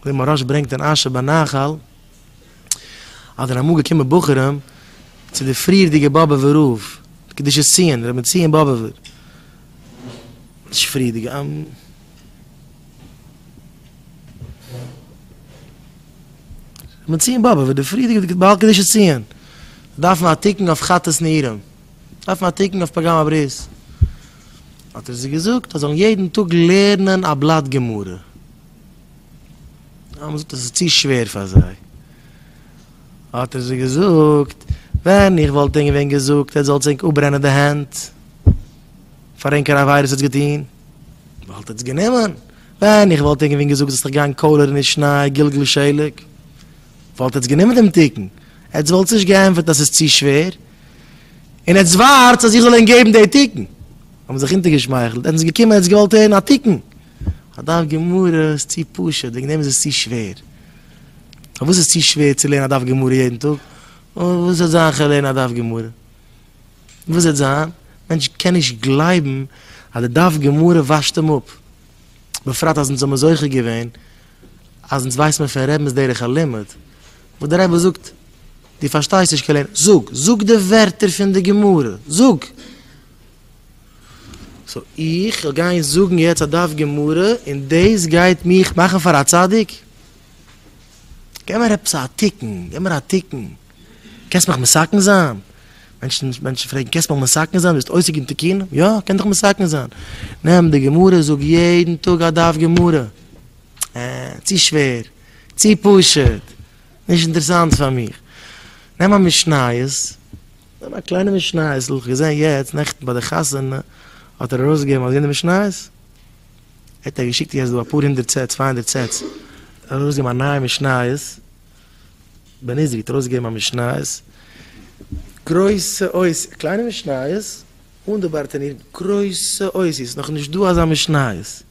ווי מוהראש ברענגט אין אשר בנחל, אז זענען אמאל געקומען בחורים צו די פריערדיגע באבובער רב, קדושת ציון, רבי ציון באבובער, נישט פריערדיגע, רבי ציון באבובער, די פריערדיגע בעל קדושת ציון, זיי דארפן א תיקון אויף חטאת נערים, זיי דארפן א תיקון אויף פגם הברית, האט ער זיי געזאגט אז זיי זאלן יעדן טאג לערנען א בלאט גמרא. האט מען געזאגט אז עס איז צו שווער פאר זיי, האט ער זיי געזאגט, ווען איך וואלט ענק ווען געזאגט עטס זאלטס ענק אפברענען די הענט, פאר ענק קיין עבירות עטס געטון, וואלט עטס גענומען, ווען איך וואלט ענק ווען געזאגט זאלסט דיך גיין קאלערן אין שניי גלגל שלג, וואלט עטס גענומען דעם תיקון, עטס וואלטס נישט געענטפערט אז עס איז צו שווער, און עטס ווארטס אז איך זאל ענק געבן די תיקון, האט מען זיך אונטערגעשמייכלט, עטס געקומען עטס געוואלט הערן א תיקון, א דף גמרא איז צו פשוט, וועגן דעם איז עס צו שווער. פארוואס איז צו שווער צו לערנען א דף גמרא יעדן טאג? וואס וועט זיין איך לערן א דף גמרא? וואס וועט זיין? מענטש קען נישט גלייבן אז די דף גמרא וואשט אים אפ. בפרט אז אונז האבן זוכה געווען אז אונז ווייסן פון רבינ'ס דרך הלימוד, וואס דער רבי זאגט, דו פארשטייסט נישט קען לערנען, זאג! זאג די ווערטער פון די גמרא! זאג! סאו איך זאל גיין זאגן יעצט א דף גמרא און דאס גייט מיך מאכן פאר א צדיק? געב מיר עפעס א תיקון, געב מיר א תיקון, קענסט מיך מסכן זיין? מענטשן מענטשן פרעגן קענסט מיך מסכן זיין? ביסט עוסק אין תיקונים? יא כ'קען דיך מסכן זיין, נעם די גמרא זאג יעדן טאג א דף גמרא. אה, צו שווער, צו פשוט, נישט אינטערעסאנט פאר מיך. נעם א משניות. נאר א קליינע משניות, איך געזען יעצט נעכטן ביי די חתונה האט ער ארויסגעגעבן אזוי די משניות, ער האט געשיקט יעצט דא אפאר הונדערט סעטס, צוויי הונדערט סעטס, ער האט ארויסגעגעבן א נייע משניות, בעניזי האט ארויסגעגעבן א משניות, גרויסע אותיות, קליינע משניות, אן די בארטעניר, גרויסע אותיות, נאכנישט דא אזא משניות,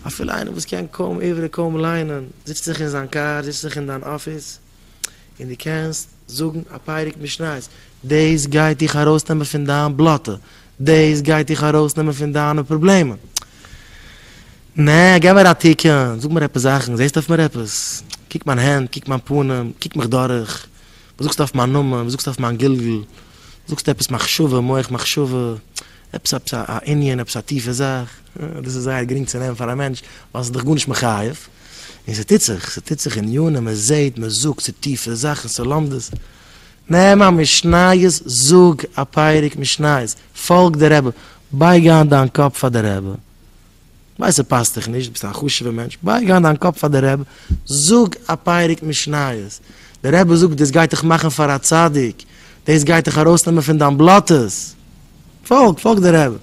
אפילו איינער וואס קען קוים עברי קוים ליינען, זיצט זיך אין זיין קאר, זיצט זיך אין דיין אפיס. און דו קענסט זאגן א פרק משניות, דאס גייט דיך ארויסנעמען פון דיין בלאטע, דאס גייט דיך ארויסנעמען פון דיינע פראבלעמען. נע, גיב מיר א תיקון, זאג מיר עפעס זאכן, זעסט אויף מיר עפעס? קוק מיין הענט, קוק מיין פנים, קוק מיך דורך, וואס זאגסטו אויף מיין נאמען, וואס זאגסטו אויף מיין גלגול, זאגסטו עפעס מחשבה, מח מחשבה, עפעס א ענין, עפעס א טיפע זאך? דאס איז זייער גרינג צו נעמען פאר א מענטש ווייל ס'איז דאך גארנישט מחייב, און ס'טוט זיך, ס'טוט זיך ענינים, מען זעט, מען זאגט, ס'איז טיפע זאכן, ס'איז לומדות. נעם א משניות, זאג א פרק משניות, פאלג די רבי, בייג איין דיין קאפ פאר די רבי, כ'ווייס ס'פאסט דיך נישט, ביסט א חשוב'ע מענטש, בייג איין דיין קאפ פאר די רבי, זאג א פרק משניות, די רבי זאגט דאס גייט דיך מאכן פאר א צדיק, דאס גייט דיך ארויסנעמען פון דיין בלאטעס, פאלג, פאלג די רבי.